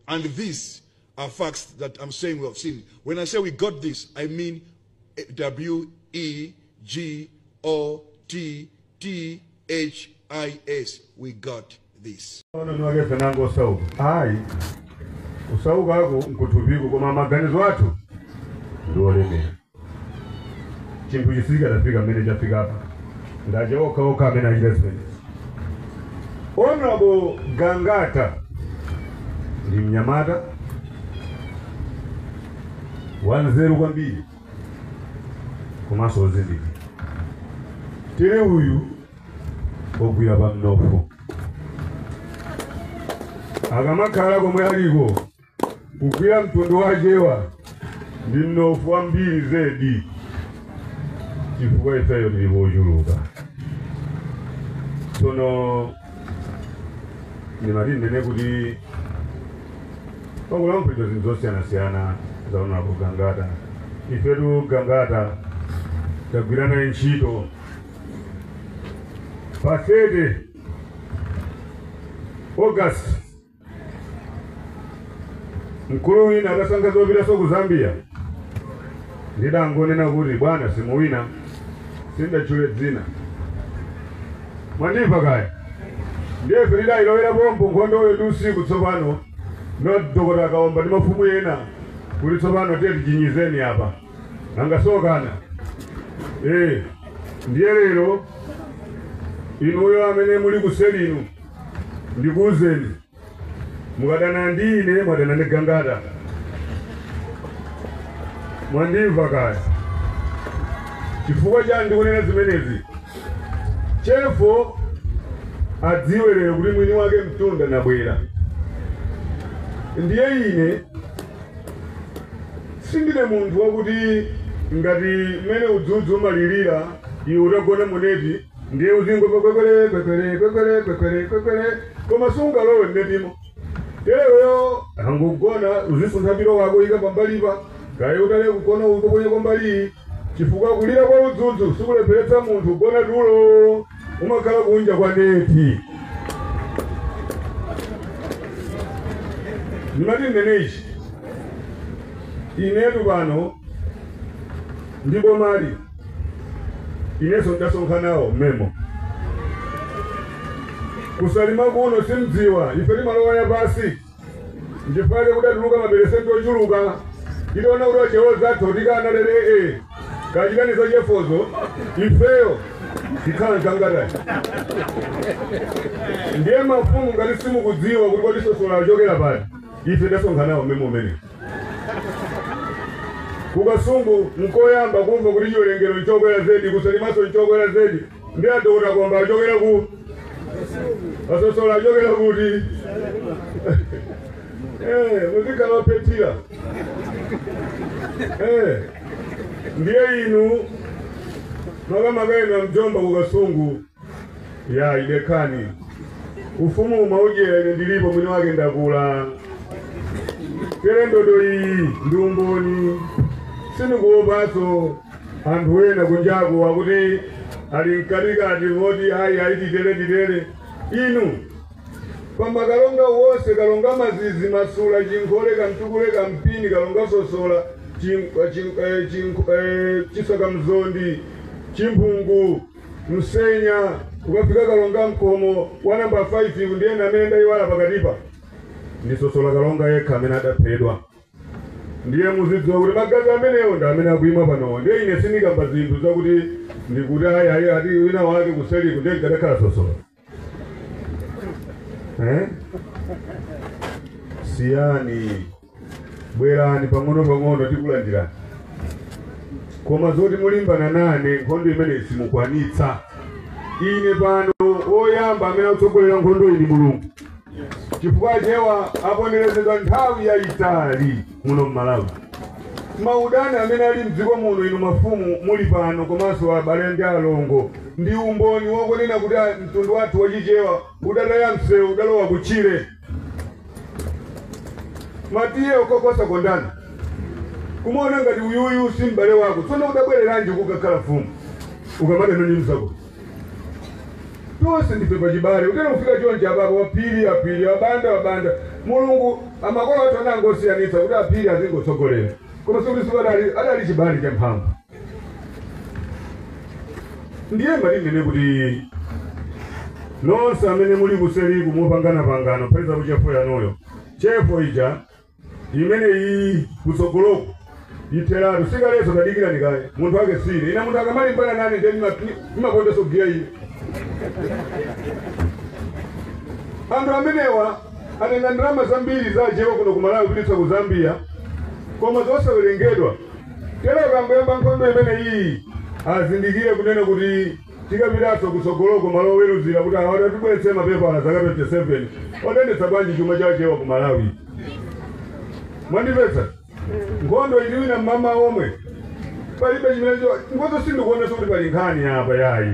And these are facts that I'm saying we have seen. When I say we got this, I mean W E G O T T H I S. We got this. Ona nwake fenango osauka ayi kusauka ako nkuthupiku koma maganizo athu ndi olemera Chinthu ichi sichikadafika pamene chafikapa ndi aja okha okha amene achita zimenezi. Honorable Gangata ndi mnyamata wanzeru kwambiri komanso wozindikira. Tele uyu wagwira pa mnofu akamakhala komwe aliko Kugwira mtundu wa Achewa ndi mnofu wambiri zedi chifukwa ifeyo tili ochuluka tsono ndimati ndinene kuti pakulankhulidwa zinthu zosiyanasiyana za Honorable gangata ifetu gangata tagwira naye ntchito pa 30 august mkulu wina atasankha zopitiranso ku zambia ndidangonena kuti bwana simuwina sindatchule dzina mwandimva kaya ndiye ife tidayilowera pompo nkhondoyo ndi usiku tsopano ndidakota kaomba ndi mafumu ena kuti tsopano tichinyizeni apa angasokana eh ndiye lero inuyo amene muli kuseli inu ndikuuzeni mukadana ndi ine mwadana ndi gangata mwandimva kaya chifukwa chani ndikunena zimenezi chefo adziwe lero kuti mwini wake mtunda nabwera ndiye ine sindine munthu wakuti ngati mmene udzudzu umalirira iwe utagona muneti ndiye uzingo kwekwele kwekwele kwekwele kwekwele kwekwele koma sungalowe mnetimo teleweyo ungogona usunthe pilo wako ika pambalipa kaye utale kugona uko kwenye kwambali chifukwa kulira kwa udzudzu sikulepheretsa munthu ugona tulo umakhala kunja kwa neti ndimati ndinenechi inetu pano ndi bomali inenso ndasonkha nawo memo kusalima kuno simdziwa ife timalowa yapasi ndi fight kudatuluka maperesenti ochuluka tidaona kuti achewa anzathu tikana lero ee kachiteni zachefozo ifeyo tikhala za gangata ndiye mafumu ngati simukudziwa kuti kodi sosola achokera pati ife tasonkha nawo memo umenewo ku kasungu nkoyamba kumva kuti chiwerengero nchokwera zedi ku Salimanso nchokwera zedi ndi adokota komba achokera ku asosola achokera kuti Eh, muzikhala ophethira Eh, ndiye inu makamaka inu amjomba ku kasungu yayi dekani ufumu umaujera ine ndilipo mwini wake ndakula tere ndodo iyi ndi umboni sindikuopanso anthu ena kunjaku akuti ali mkatikati moti ayi ayi titere titere inu pamba kalonga wonse kalonga mazizi masula chinkhole kamtukule kampini kalonga sosola chin- eh, chin- eh, chin- eh, Chisaka Mzondi chimphungu Msenya ukafika Kalonga mkomo wa namba 5yu ndiye amene ndayiwala pakatipa ndi Sosola Kalonga yekha amene adaphedwa ndiye muzidziwa kuti magazi amenewo ndi amene akuima panowo ndiye ine sindikamba zinthu zakuti ndikuti ayi ayi ati wina wake kuseliku ndiye ndikadakhala Sosola eh? siyani bwerani pang'ono pang'ono tikulandirani koma zoti mulimbana nane nkhondo imeneyi simukwanitsa ine pano woyamba amene akutsogolera nkhondo iyi ndi mulungu chifukwa Achewa aponderezedwa nthawi yayitali muno m'Malawi. Maudani amene ali m'dziko muno inu mafumu muli pano komanso abale ndi alongo ndi umboni wokonena kuti a- mtundu wathu wa Chichewa udataya msewu udalowa kutchire. Matiye okokosa kondana kumaona ngati uyuyu si m'bale wako tsono udabwereranji kukakhala mfumu ukamadana ndi mzako tonse ndife pachibale utene kufika chonje apapo aphiri aphiri wabanda wabanda mulungu amakolo athu anangosiyanitsa kuti aphiri azingotsogolera koma sikuti sikuti adali adali chibale cha mphamvu ndiye mwa inu nonse kuti nonse amene muli kuseliku mopangana pangano peza kuchefu yanuyo chefu ija imeneyi kutsogoloku itheratu sikaleso tadikirani kaye munthu wake sine ine munthu akamalimbana nane ndiye ndimapondanso giya ine anthu amenewa atenga ndalama zambiri za Achewa kuno kumalawi kupititsa ku zambia koma zosawerengedwa tero akangoyamba nkhondo imeneyi azindikire kunena kuti Tikapitanso kutsogoloko malo oweluzira kuti awa atibweretse mapepala zaka 27 otendetsa bwanji chuma cha achewa ku malawi mwandimvetsa nkhondo iyi ndiwina mmawa womwe palibe chimene ngozo sindikuonesa kuti pali nkhani apa yayi